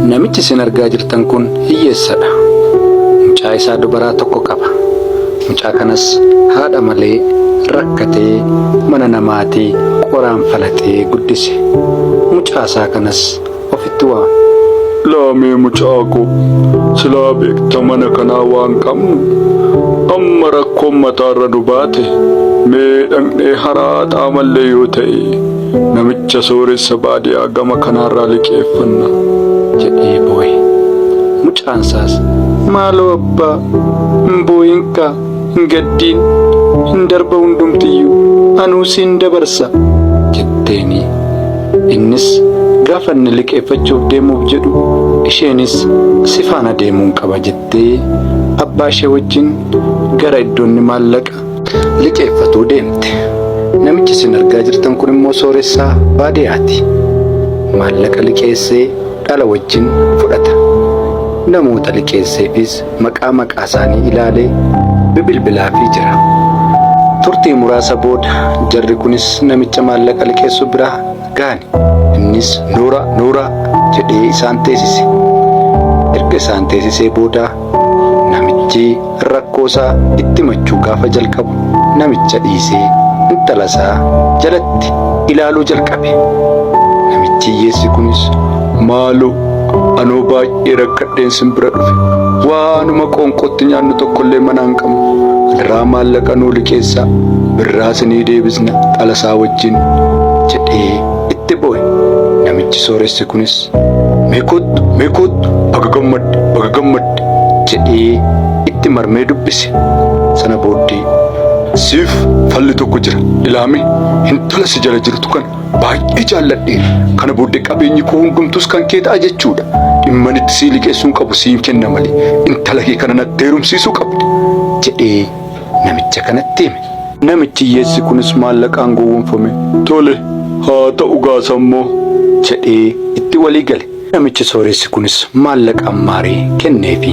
Namichi isin argaa jirtan kun hiyyeessadha. Mucaa isaa dubaraa tokko qaba. Mucaa kanas haadha malee rakkatee mana namaatii qoraan falaxee guddise. Mucaa isaa kanas ofitti waama. Laamee mucaa koo silaa beekta mana kanaa waan qabnu amma rakkoon mataarra nu baate mee dhaqnee haraaxaa mallee yoo ta'e. Namicha sooressa baadiyaa gama kanaarraa liqeeffanna. jedhee boo'e. Mucaan isaas maaloo abbaa hin boo'inka hin gaddiin hin darba hundumtiyyuu anuu siin dabarsa jetteeni. Innis gaafa inni liqeeffachuuf deemuuf jedhu isheenis si faana deemuun qaba jettee abbaa ishee wajjin gara iddoonni maallaqa liqeeffatuu deemte. Namichi isin argaa jirtan kun immoo sooressaa baadiyaati. Maallaqa liqeessee dhala wajjin fudhata. Namoota liqeesseefis maqaa maqaasaanii ilaalee bibilbilaafii jira. Turtii muraasa booda jarri kunis namicha maallaqa liqeessu biraa gaani. Innis nuura nuura jedhee isaan teesise. Erga isaan teesisee booda namichi rakkoosaa itti machuu gaafa jalqabu namicha dhiisee intalasaa jalatti ilaaluu jalqabe. Namichi hiyyeessi kunis maaloo anoo baay'ee rakkadheen sin bira dhufe waanuma qoonqootti nyaannu tokkollee manaa hin qabnu adaraa maallaqa nuu liqeessaa birraa sinii deebisna dhalasaa wajjin. wajjin jedhee itti boo'e. Namichi sooressi kunis mee koottu mee koottu baga gammadde baga gammadde jedhee itti marmee dubbise. Sana booddee siif falli tokko jira ilaame intala si jala jirtu kana baay'ee jaalladhee kana booddee qabeenyi koo hundumtuus kan kee ta'a jechuudha. Dhimman itti sii liqeessuun qabu siin kenna malee intala kee kana natti heerumsiisuu qabda jedhee namicha kanatti hime. Namichi hiyyeessi kunis maallaqaan gowwomfame tole haa ta'u gaasammoo jedhee itti walii gale. Namichi sooressi kunis maallaqaan maaree kenneefi.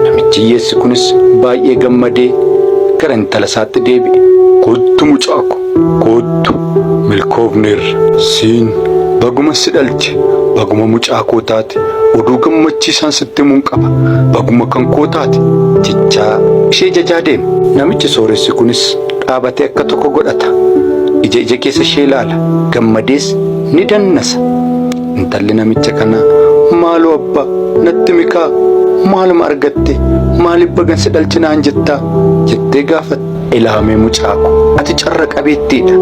Namichi hiyyeessi kunis baay'ee gammadee gara intala isaatti deebi'e. Kottu mucaa ko, Koottu milkoofneerra. Siin baguma si dhalche baguma mucaa koo taate oduu gammachiisaan sitti himuun qaba baguma kan koo taate jechaa ishee jajaa deema. Namichi sooressi kunis dhaabatee akka tokko godhata. Ija ija keessa ishee ilaala. Gammadees ni dannasa. Intalli namicha kanaa maaloo abbaa natti himikaa maaluma argattee maaliif bagan si dhalche naan jettaa jettee gaafatti. Ilaamee mucaa ko, ati carra qabeettiidha.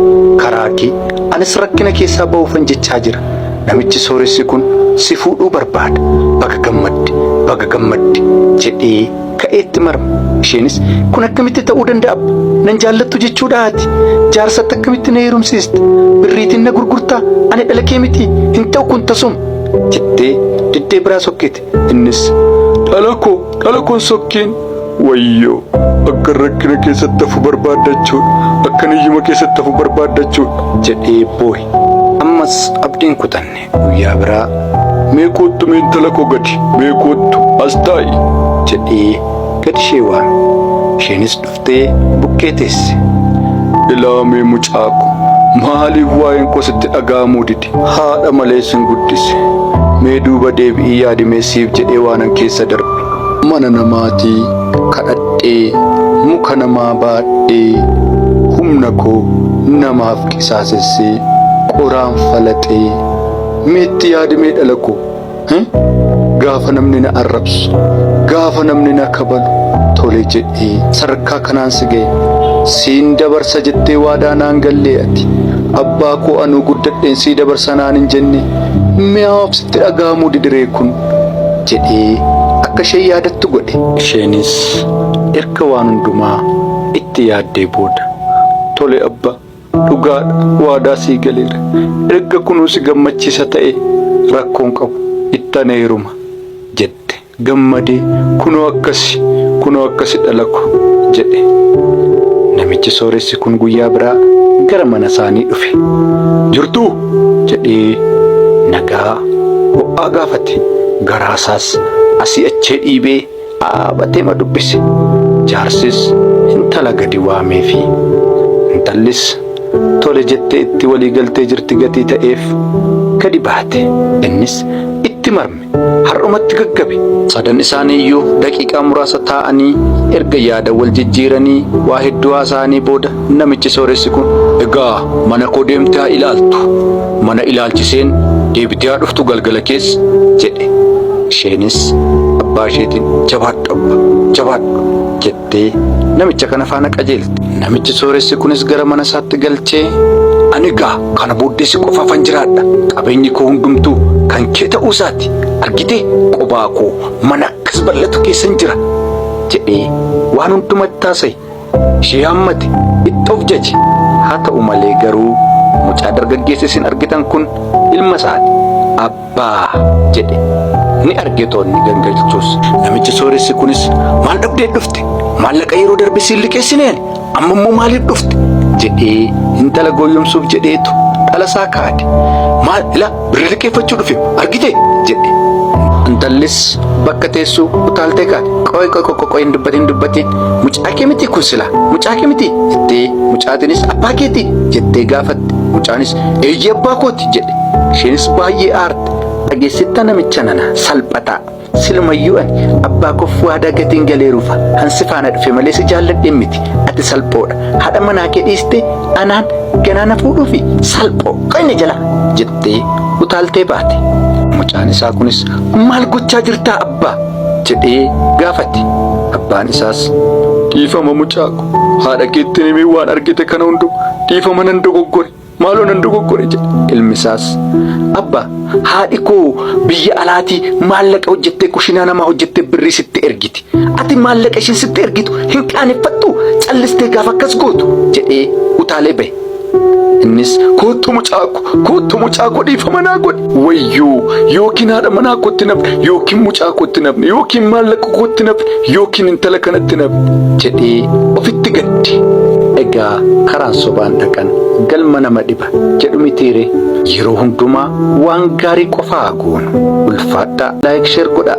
Karaa kee, anis rakkina keessaa bahuufan jechaa jira. Namichi sooressi kun si fuudhuu barbaada. Baga gammadde! Baga gammadde! jedhee ka'ee itti marme. Isheenis, Kun akkamitti ta'uu danda'a abba? Nan jaallattu jechuudhaa ati? Jaarsatti akkamitti na heerumsiista? Birriitiin na gurgurtaa? Ani dhala kee mitii? Hin ta'u kun tasuma! jettee diddee biraa sokkite. Innis dhala koo dhala koon sokkeen wayyoo akkan rakkina keessatti hafu barbaaddachuudha akkan hiyyuma keessatti hafu barbaaddachuudha jedhee boohe. Ammas abdiin kutanne guyyaa biraa mee koottu mee intala koo gadi mee koottu as taa'i jedhee gad ishee waame. Isheenis dhufte. jettee bukkee teesse. Ilaamee mucaako maaliif waa'een koo sitti dhaga'amuu dide? Haadha malee sin guddise. Mee duuba deebi'ii yaadimee siif jedhee waanan keessa darbe. Mana namaatii kadhadhee muka namaa baadhee humna koo namaaf qisaasessee qoraan falaxee meetti yaadimee dhala koo? Gaafa namni na arrabsu, gaafa namni na kabalu tole jedhee sadarkaa kanaan si ga'e. Siin dabarsa jettee waadaa naan gallee ati abbaa koo anuu guddadheen sii dabarsa naan hin jenne mi'aawaf sitti dhaga'amuu didiree kun jedhee akka ishee yaadattu godhe. Isheenis erga waan hundumaa itti yaaddee booda tole abba Dhugaadha waadaa sii galeera. Erga kunuu si gammachiisa ta'ee rakkoon qabu itti anee heeruma jette. Gammadee kunoo akkasi kunoo akkasi dhalako jedhe. Namichi sooressi kun guyyaa biraa gara mana isaanii dhufe. Jirtuu? jedhee nagaa ho'aa gaafate. Garaa isaas asii achee dhiibee dhaabateema dubbise. Jaarsis intala gadi waameefi. Intallis tole jettee itti walii galtee jirti gatii ta'eef gadi baate. Innis itti marme. Har'umatti gaggabe. Sadan isaaniiyyuu daqiiqaa muraasa taa'anii erga yaada wal jijjiiranii waa hedduu haasa'anii booda Namichi sooressi kun, Egaa mana koo deemtee haa ilaaltu. Mana ilaalchiseen deebitee haa dhuftu galgala keessa jedhe. Isheenis abbaa isheetiin, Jabaadhu abba, jabaadhu jettee namicha kana faana qajeelte. Namichi sooressi kunis gara mana isaatti galchee, Ani egaa kana booddee si qofaafan jiraadha. Qabeenyi koo hundumtuu kan kee ta'uu isaati. Argitee qobaa koo mana akkas bal'atu keessan jira jedhee waan hundumatti haasa'e. Ishee hammate itti of jaje haa ta'u malee garuu mucaa dargaggeessa isin argitan kun ilma isaati abbaa jedhe ni arge toonni gangalchuus namichi sooressi kunis maal dhabdee dhufte maallaqa yeroo darbe siin liqeessineen amma immoo maaliif dhufte jedhee intala gooyyomsuuf jedheetu dhalasaa kaade maal ila Birrii liqeeffachuu dhufe argite jedhe. Intallis bakka teessu utaaltee kaate. Qoy qoy qoy qoy hin dubbatin dubbatin mucaa kee miti kun sila mucaa kee miti jettee mucaatinis abbaa keeti jettee gaafatte. Mucaanis eeyyee abbaa kooti jedhe. Isheenis baay'ee aarte. Dhageessittaa namicha nana salphataa. Silumayyuu ani abbaa koof waadaa gateen galeeruufa han si faana dhufe malee si jaalladheen miti ati salphoodha haadha manaa kee dhiiste anaan ganaa na fuudhuufi salphoo qonni jala jettee utaaltee baate. Mucaan isaa kunis maal gochaa jirtaa abbaa jedhee gaafate. Abbaan isaas dhiifama mucaako haadha keettiin himee waan argite kana hundu dhiifama nan dogoggore Maaloo nan dogoggore jedhe. Ilmi isaas abba haadhi koo biyya alaatii maallaqa hojjettee kushinaa namaa hojjettee birrii sitti ergiti. Ati maallaqa ishiin sitti ergitu hin qaaneffattu callistee gaafa akkas gootu jedhee utaalee bahe. Innis koottu mucaako koottu mucaako dhiifama naa godhi. wayyoo yookiin haadha manaa kootti nafne yookiin mucaa kootti nafne yookiin maallaqa kootti nafne yookiin intala kanatti nafne jedhee ofitti gadde. Egaa karaan sobaan dhaqan galma nama dhiba jedhu mitiire yeroo hundumaa waan gaarii qofaa goonu ulfaadhaa laayik sheer godhaa.